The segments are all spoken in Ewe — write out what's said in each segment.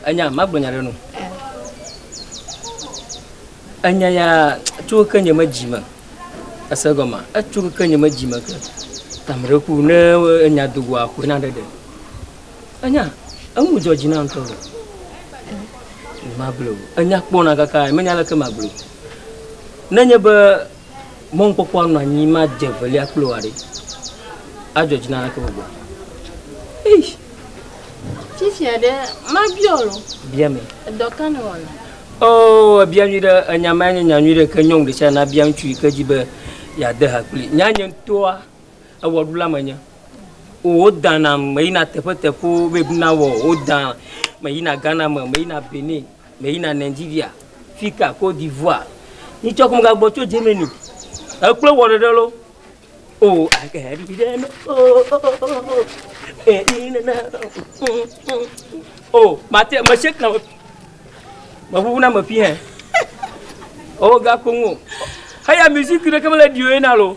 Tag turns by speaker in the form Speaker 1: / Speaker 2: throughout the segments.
Speaker 1: Enya, magblɔ nya ɖe nu. Enya ya tso ke nye me dzi me. Ese gɔma, etso ke nye me dzi me ke. Tamre ku ne enya do goa ko na ɖeɖe. Enya, enu dzɔ dzi na ŋutɔ. Magblɔ, enya kpɔna kaka, menya leke magblɔ. Nenye be Mɔnukpɔkpɔa nɔ anyi madze velia kple wòa ɖe, adzɔ dzi na naneke gbɔgblɔ. Eish! Fifia ɖe, mabiɔ wò loo. Bia me. Edɔ ka nèwɔna? Oo, èbia nyui ɖe. Enya mae nye nya nyui ɖe, ke nyɔnu ɖesiaɖe nabia ŋutsu yi ke di be yeade ha kplii. Nya nye ŋutɔa, ewɔɖula menye o. Wodana ŋu meyina teƒeteƒewo, babe, na wɔ, wodana ŋu meyina Ghana me, meyina Benin. Meyina Nigeria, fika Côte d'Ivoire. Ni tsɔ kum gagbɔ tso Germany. Ekplɔ wɔ ɖeɖe lo. O ake ɖe ɖe no. O o o o. E i ne na. O mate me shake na. Me ʋuʋu na me fi hɛ. O ga ko ŋu. Heya musique ɖe ke mele dio ye na lo.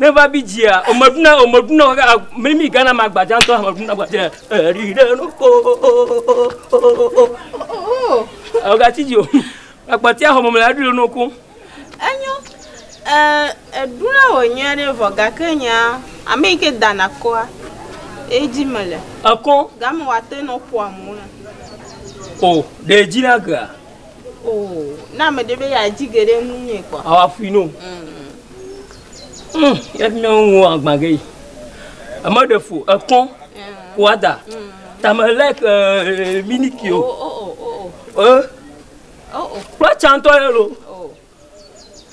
Speaker 1: Ne va bi dzia, omeɖuna omeɖuna kaka mimi Ghana ma gbadza ŋutɔ ameɖuna gbadza eri ɖe no ko. Ɔgati dzi o. Akpati ahɔ mɔmɔ ya ɖo no ko. Enyo. Ɛ eɖuna wɔ nyuia ɖe vɔ gake nya ame yi ke dana kɔa edzi me le. Ekɔ. Game wa te no poa mo. O, ɖe edzi na gea. O, ne ame ɖe be yeadzi ge ɖe ŋunye kpɔ. Awa fui no. Mm, ya fi mía ŋu agbã ge yi. Eme ɖe fo, ekɔ, wada. Tame lɛ ke eh, miniki o. O, o, o, o, o. Eh? O, o. Kpla tsantɔ yɛ lo.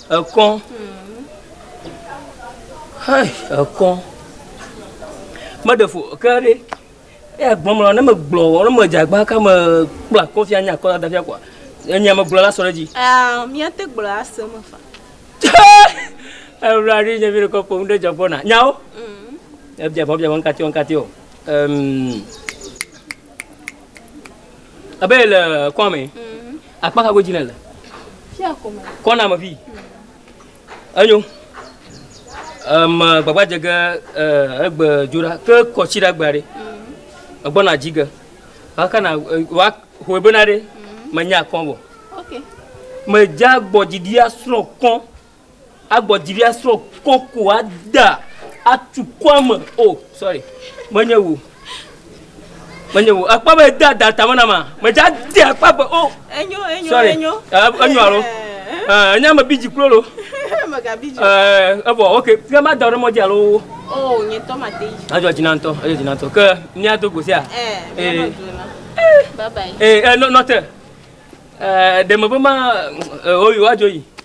Speaker 1: Ekɔ. Hey, ekɔ. Meɖe fo ke ɖe. Eya gbɔmlɔ ne megblɔ wɔ ne medzagba ka me kpla kɔfia nya kɔ da fia kwa. Enya megblɔ la sɔ ɖe dzi. Ah, mia te gblɔ ase me fa. Ebla ri nye mi ko pom ɖe jagbona. Nyao. Mhm. Ebia bɔ bia wan katio wan katio. Ehm. Abe le kɔa me. Akpa ka godzi ne le? Kɔna me fi. Enyo. Eme gbagba dze ge egbe dzora ke kɔtsi ɖe agba ɖe. Egbɔna dzi ge. Wakana wa hoe bena ɖe menya kɔn bɔ. Medza gbɔdzi ɖi asrɔ̃ kɔn. Agbɔ dzi be asrɔ̃ kɔ ko ada atu kɔa me. O, sorry. Menye wò. Menye wò. Akpa be de ada tame na ma. Medze ade akpa be o. Enyo, enyo, sorry. enyo. Uh, enyo alo. Uh, enye ame bidzi klo lo. Mega bidzi. Uh, evo, okay. Ke ma da ɖe mɔdzi alo. Oh, nye tɔ ma te yi. Adzɔ dzi na ŋutɔ, adzɔ dzi na ŋutɔ. Ke mía do go sia. Eh, eh. eh. Bye bye. Eh, eh, no, not. Eh, de me be ma, eh, oyi, wa jo yi.